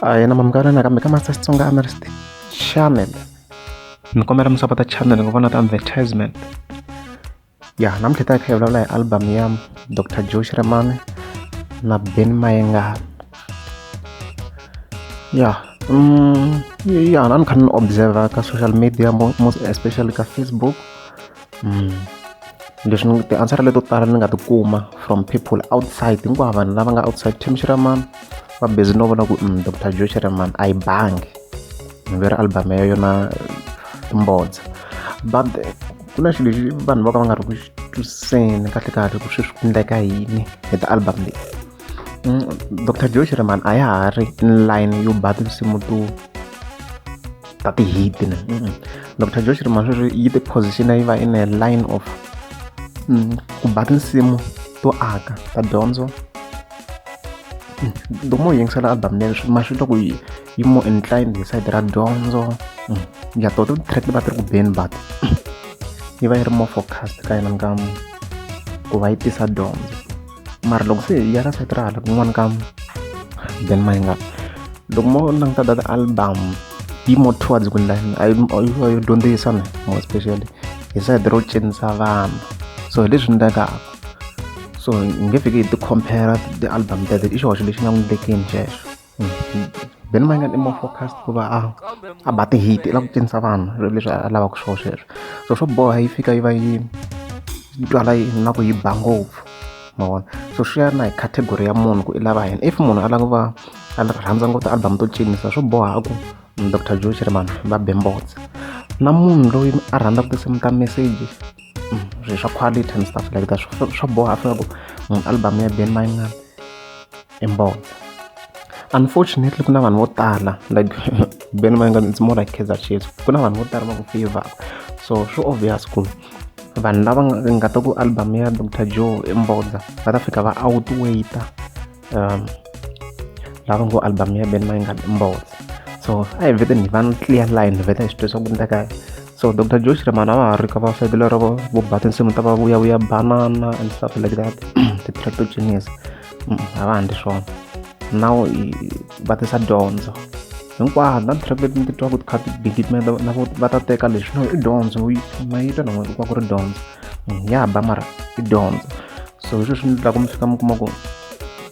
a yena mamukana nakambe ka master xitsonga analyst channel ni kombela mi sapota channel ni ku vona ti-advertisement ya namuntlha ta hi kha hi vulavula hi album ya dr joe xiremane na ben mayengana ya mm, ya na ni kha ni observer ka social media most especially ka facebook leswi ni ti-answer leto tala ni nga ti kuma from people outside hinkwavo vanhu lava nga outside team shiraman va busy no vona ku um dr joe shiraman a yi bangi ni ve ri album ya yona timbodza but ku na xilo lexi vanhu vo ka va nga ri ku twiseni kahle kahle ku sweswi ku endleka yini hi ti-album leyi mm, dr joe shiraman a ya ha ri in line yo ba tinsimu to ta ti-hit ne mm. dr josh rima sweswi yi ti-position-a yi va in a line of mm, ku ba tinsimu to aka ta dyondzo mm, loko mo yingisela album leyi swi ma swi twa ku yi yi more inclined hi side ra dyondzo mm, ya to ti track ti va ti ri ku beni but yi va yi ri more focused ka yena nkamu ku va yi tisa dyondzo mara loko se hi ya ka site ra hala kun'wana ka then ma nga loko mo languta data album yi more towards ku lani a yo dyondzisa ni more especially hi side ro cinisa vanhu so hi leswi endlekaka so hi nge fiki hi ti-compare ti-album teto i xihoxo lexi nga n'wi tekeni xexo Ben ma nga i more focused ku va a a ba ti-hit i lava ku cinisa vanhu leswi a lavaka swona sweswo so swo boha yi fika yi va yi yi twala yi na ku yi ba ngopfu ma vona so swi ya na hi category ya munhu ku i lava yini if munhu a lava ku va a rhandza ngopfu ti-album to cinisa swo boha ku doctor joe chirmani va be mbotsa na munhu loyi a rhandzaka tinsimu ta message swilo swa quality and stuff like that swa swa boha a fanele ku munhu album ya Ben Mayimana i mbona unfortunately ku na vanhu vo tala like Ben Mayimana it's more like Kaizer Chiefs ku na vanhu vo tala va ku favor so swi obvious ku vanhu lava nga ta ku album ya Dr Joe i mbodza va ta fika va outwaiter um, lava ngo album ya beni mayi nga mbotsa so a hi vete ni va ni clear line ni vete hi swi twisisa ku endleka so dr josh ramana va ha ri ka va side lero vo vo ba tinsimu ta va vuyavuya banana and stuff like that ti-tratogenius mm, a va handli swona now va tisa dyondzo hinkwato na track leti ni ti twaka tikha tigidime na va ta teka leswi no i dyondzo mayitwa na n'wina ku va ku ri dyondzo mm, ya ba mara i dyondzo so hi sweswi ni tlaka mi fika mi kuma ku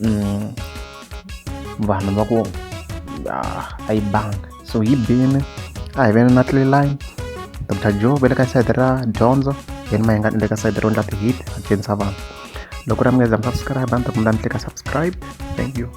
mm, vanhu va ku ah, a yi banga so yi bini a hi veni na tliline dr joe ve le ka sayiti ra dyondzo yeni ma hi nga ni le ka sayiti ro endla ti-hit a dyondzisa vanhu loko ra mi nga za mi subscribe a ni ta kumela mi tlika subscribe thank you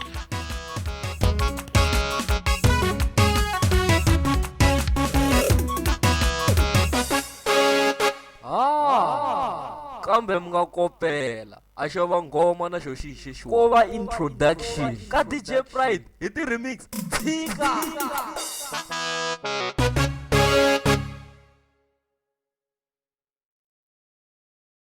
Ah, kambe mi nga kopela a xo va nghoma na xo xi xexiwa ko va introduction ka dj pride hi ti-remix tshika